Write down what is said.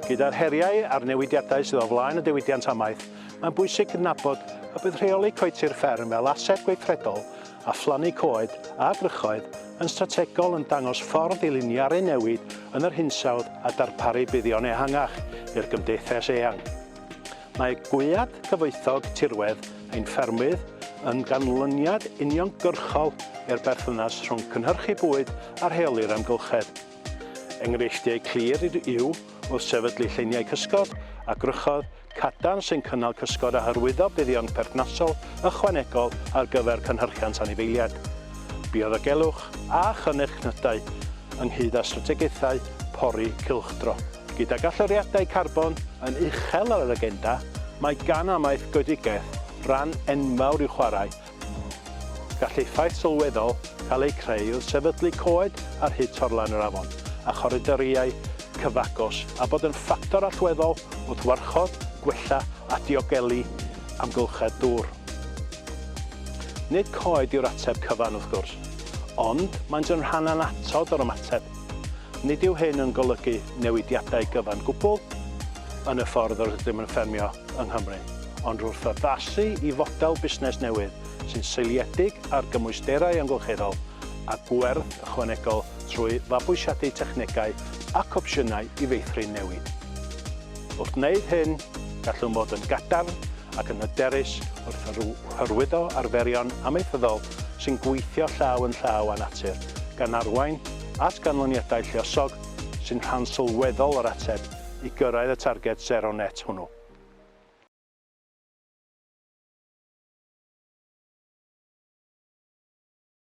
Gyda'r heriau a'r newidiadau sydd o flaen y diwydiant amaeth, mae'n bwysig cydnabod y bydd rheoli coetir fferm fel ased gweithredol a phlannu coed a gwrychoedd yn strategol yn dangos ffordd i liniaru newid yn yr hinsawdd a darparu buddion ehangach i'r gymdeithas eang. Mae Gwead Cyfoethog Tirwedd ein Ffermydd yn ganlyniad uniongyrchol i'r berthynas rhwng cynhyrchu bwyd a rheoli'r amgylchedd. Enghreifftiau clir yw wrth sefydlu lleiniau cysgod a gwrychoedd cadarn sy'n cynnal cysgod a hyrwyddo buddion perthnasol ychwanegol ar gyfer cynhyrchiant anifeiliaid, bioddiogelwch a chynnychnydau, ynghyd â strategaethau pori cylchdro. Gydag allyriadau carbon yn uchel ar yr agenda, mae gan amaeth goedigaeth ran enfawr i'w chwarae. Gall effaith sylweddol cael eu creu wrth sefydlu coed ar hyd torlan yr afon a choridoriau cyfagos a bod yn ffactor allweddol wrth warchod, gwella a diogelu amgylchedd dŵr. Nid coed yw'r ateb cyfan, wrth gwrs, ond maent yn rhan annatod o'r ymateb. Nid yw hyn yn golygu newidiadau gyfan gwbl yn y ffordd yr ydym yn ffermio yng Nghymru, ond wrth addasu i fodel busnes newydd sy'n seiliedig ar gymwysterau amgylcheddol a gwerth ychwanegol trwy fabwysiadu technegau ac opsiynau i feithrin newid. Wrth wneud hyn, gallwn fod yn gadarn ac yn hyderus wrth hyrwyddo arferion amaethyddol sy'n gweithio llaw yn llaw â natur, gan arwain at ganlyniadau lluosog sy'n rhan sylweddol o'r ateb i gyrraedd y targed sero net hwnnw.